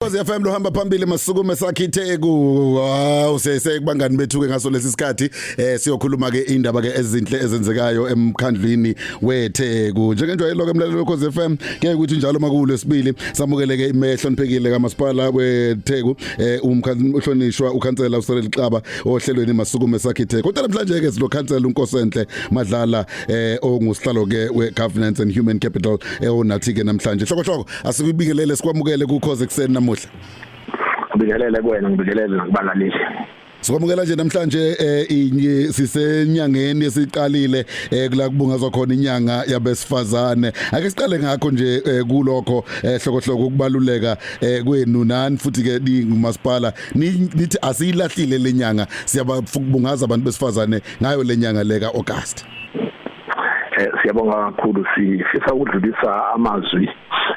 Khosi FM lohamba phambili masukume sakhe itheku wow sese kubangani bethu ke ngaso lesi sikhathi eh siyokhuluma ke indaba ke ezinhle ezenzekayo emkhandlwini wetheku njengenjwayelo ke mlalelo Khosi FM ke ukuthi njalo makulo esibili samukele ke imehlo niphekile kamasipala wetheku eh umhlonishwa ukhansela uSerel Xaba ohlelweni masukume sakhe itheku kodwa namhlanje ke silokhansela unkosenhle madlala eh ongusihlalo ke we governance and human capital eh onathi ke namhlanje hloko hloko Asikubingelele sikwamukele ku Khoze kuseni namuhla. Ngibingelele kuwena ngibingelele nakubalaleli. Sikwamukela nje namhlanje eh inye sisenyangeni esiqalile eh kula kubungazwa khona inyanga yabesifazane. Ake siqale ngakho nje eh, kulokho eh hlokohloko ukubaluleka eh kwenu nani futhi ke ningumasipala Ni- nithi asiyilahlile lenyanga siyababungaza abantu besifazane ngayo lenyanga leka August. eh siyabonga kakhulu sifisa ukudlulisa amazwi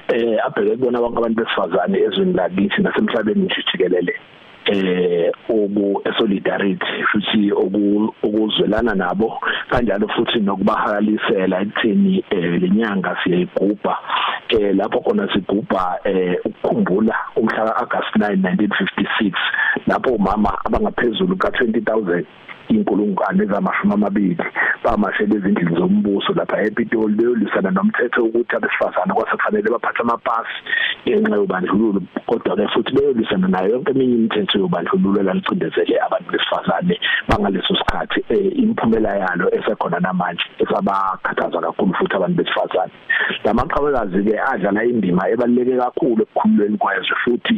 eh abheke kubona bonke abantu besifazane ezweni lakithi nasemhlabeni nje jikelele eh obu solidarity futhi okuzwelana nabo kanjalo futhi nokubahakalisela ekuthini eh, lenyanga siyayigubha eh lapho khona sigubha eh ukukhumbula umhla ka-August 9 1956 lapho umama abangaphezulu ka-20000 inkulungwane zamashumi amabili bamashela ezindlini zombuso lapha ePitoli beyolwisana nomthetho ukuthi abesifazane kwasefanele baphathe amapasi ngenxa yobandlululo kodwa ke futhi beyolwisana nayo yonke eminye imithetho yobandlululo elalicindezele abantu besifazane bangaleso sikhathi eh, imiphumela yalo esekhona namanje esabakhathaza kakhulu futhi abantu besifazane lamaqhawekazi ke adlala indima ebaluleke kakhulu ekukhululweni kwezwe futhi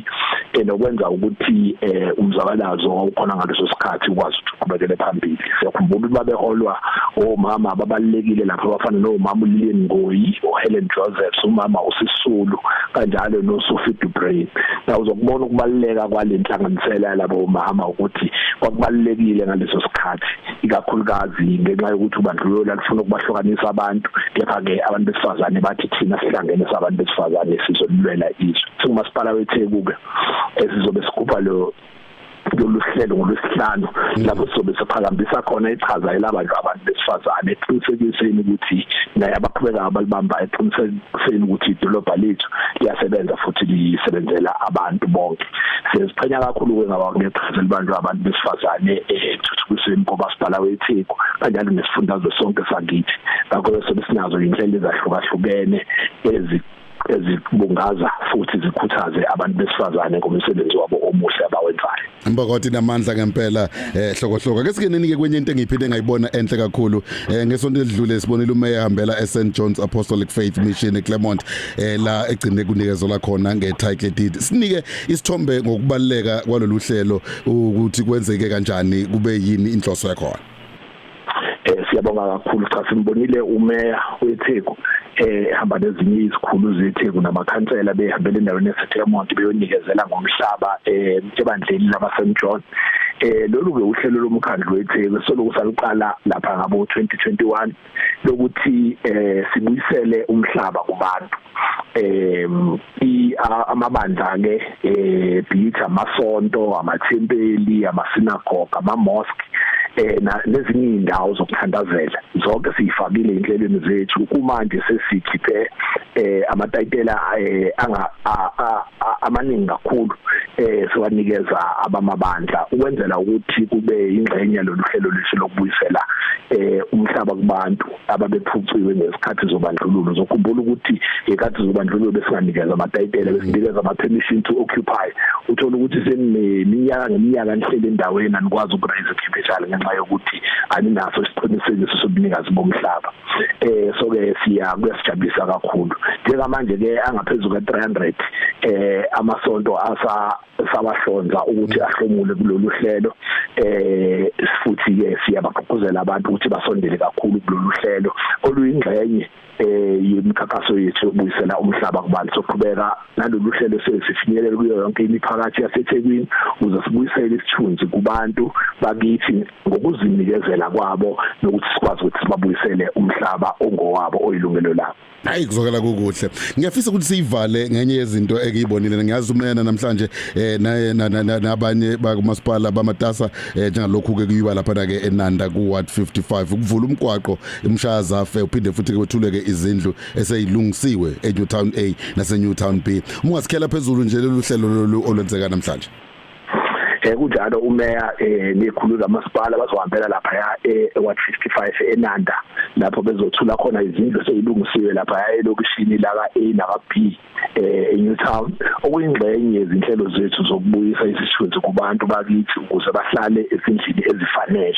ke nokwenza ukuthi eh, umzabalazo wawukhona ngaleso sikhathi ukwazi ukuthi uqhubekele phambili siyakhumbula ukuthi babeholwa omama ababalekile lapha abafana nomama uLilian Ngoyi uHelen Josephs umama uSisulu kanjalo noSophie Dubrain na uzokubona ukubaluleka kwalenhlanganisela yalabo mama ukuthi kwakubalekile ngaleso sikhathi ikakhulukazi ngenxa yokuthi ubandlululo alufuna ukubahlukanisa abantu kepha ke abantu besifazane bathi thina sihlangene sabantu besifazane sizolulwela izwe singumasipala weTheku ke esizobe sigubha lo lolu hlelo ngolwesihlanu mm. lapho sizobe siphakambisa khona ichaza elabantu abantu besifazane eqinisekiseni ukuthi naye abaqhubekayo balibamba eqiniseke kuseni ukuthi idolobha lethu liyasebenza futhi lisebenzela abantu bonke siziqhenya kakhulu ke ngaba ngeqhaza elibantu abantu besifazane ethuthukisweni eh, komasipala weTheku kanjalo nesifundazwe sonke sakithi ngakho sobe sinazo inhlelo ezahlukahlukene ezi ezibungaza futhi zikhuthaze abantu besifazane ngomsebenzi wabo omuhle abawenzayo Mbokoti namandla ngempela eh hlokohloka ke sikeneni ke kwenye into engiphinde ngayibona enhle kakhulu eh ngesonto edlule sibonile umeya hambela eSt John's Apostolic Faith Mission eClermont eh la egcine kunikezwa la khona ngetitle deed sinike isithombe ngokubaleka kwalolu hlelo ukuthi kwenzeke kanjani kube yini inhloso yakho eh siyabonga kakhulu cha simbonile umeya weTheku eh hamba nezinye izikhulu zeTheku namakhansela behambele endaweni eseThemont beyonikezela ngomhlaba eh ebandleni lama St John eh lolu ke uhlelo lomkhandlu weTheku soloku saluqala lapha ngabo 2021 lokuthi eh sibuyisele umhlaba kubantu em amabandla ke eh bithi amasonto amathempeli amasinagoga ama mosque eh nezinye indawo zokuthandazela zonke siyifakile inhlelweni zethu kumanje sesikhiphe eh amatayitela eh, anga amaningi kakhulu eh siwanikeza abamabandla ukwenzela ukuthi kube ingxenye loluhlelo lwethu lokubuyisela eh umhlaba kubantu ababephuciwe ngesikhathi zobandlululo zokhumbula ukuthi ngekhathi zobandlululo besinganikezwa amatayitela besinikezwa ama-permission to occupy uthola ukuthi seniminyaka ngeminyaka nihleli endaweni anikwazi ukurayisa capital ngenxa yokuthi aninaso isiqinisekiso sobunikazi bomhlaba eh so ke siya kuyasijabulisa kakhulu njengamanje ke angaphezulu ka 300 eh amasonto asa sabahlonza ukuthi ahlomule kulolu hlelo eh futhi ke siyabagqugquzela abantu ukuthi basondele kakhulu kulolu hlelo oluyingxenye eh yemikhankaso yethu yokubuyisela umhlaba kubantu soqhubeka nalolu hlelo sesifinyelele kuyo yonke imiphakathi yaseThekwini uze sibuyisele isithunzi kubantu bakithi ngokuzinikezela kwabo nokuthi sikwazi ukuthi sibabuyisele umhlaba ongowabo oyilungelo labo hayi kuzokala kukuhle ngiyafisa ukuthi siyivale ngenye yezinto ekuyibonile ngiyazi umena namhlanje eh naye nabanye bakumasipala bamatasa eh, njengalokhu ke kuyiwa lapha na ke eNanda ku ward 55 ukuvula umgwaqo emshaya zafe uphinde futhi ke wethuleke izindlu eseyilungisiwe eNewtown A naseNewtown B uma ungasikhela phezulu nje lolu hlelo lolu olwenzeka namhlanje eh kunjalo umeya eh nekhulu lamasipala bazohambela lapha ya eh 155 eNanda lapho bezothula khona izindlu seyilungisiwe lapha ya elokishini la ka A na ka B eh eNewtown okuyingxenye yezinhlelo zethu zokubuyisa isithunzi kubantu bakithi ukuze bahlale ezindlini ezifanele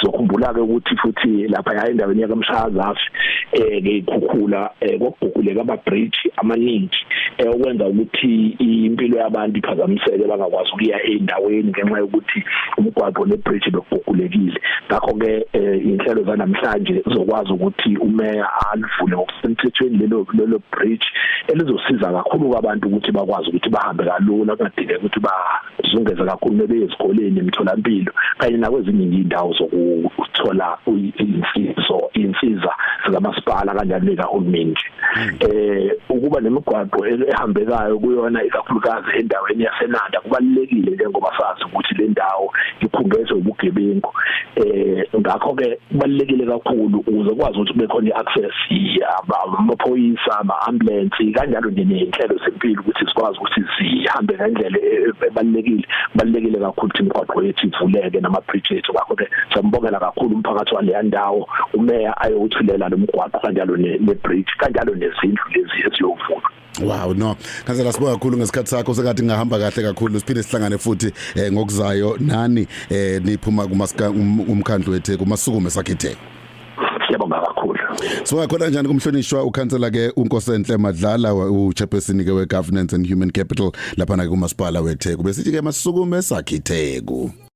sokhumbula ke ukuthi futhi lapha ya endaweni yakamshazafi eh ngeyikhukhula eh, kwaguguleka ama bridge amaningi eh, okwenza ukuthi impilo yabantu iphazamiseke bangakwazi ukuya endaweni ngenxa yokuthi umgwaqo ne bridge bekugugulekile ngakho ke eh, inhlelo zanamhlanje zokwazi ukuthi umeya alivule ngokusemthethweni lelo lelo bridge elizosiza kakhulu kwabantu ukuthi bakwazi ukuthi bahambe kalula kungadingeki ukuthi ba sizungeze kakhulu bebe ezikoleni emtholampilo kanye nakwezinye indawo zokuthola insizo insiza zikamasipala kanjalo nekahulumeni nje hmm. eh ukuba nemigwaqo ehambekayo kuyona ikakhulukazi endaweni yaseNanda kubalekile njengoba sazi ukuthi le ndawo iphungezwe ubugebengu eh ngakho ke kubalekile kakhulu ukuze kwazi ukuthi bekhona iaccess amaphoyisa ama ambulance kanjalo nje nezinhlelo zempilo ukuthi sikwazi ukuthi zihambe ngendlela e-, e-, ebalekile balekile kakhulu ukuthi imigwaqo yethu ivuleke nama bridge ethu ngakho ke sambongela kakhulu umphakathi wale ndawo umeya ayothulela lomgwaqo kanjalo ne bridge kanjalo nezindlu lezi eziyovulwa Wow no ngazela sibonga kakhulu ngesikhathi sakho sengathi ngahamba kahle kakhulu siphinde sihlangane futhi eh, ngokuzayo nani eh, niphuma kumasika um, umkhandlu wethe kumasukume sakhethe Siyabonga kakhulu Sibonga khona njani kumhlonishwa ukhansela ke uNkosenhle Madlala uchairperson ke weGovernance and Human Capital lapha na kumasipala wethe kube sithi ke masukume sakhitheku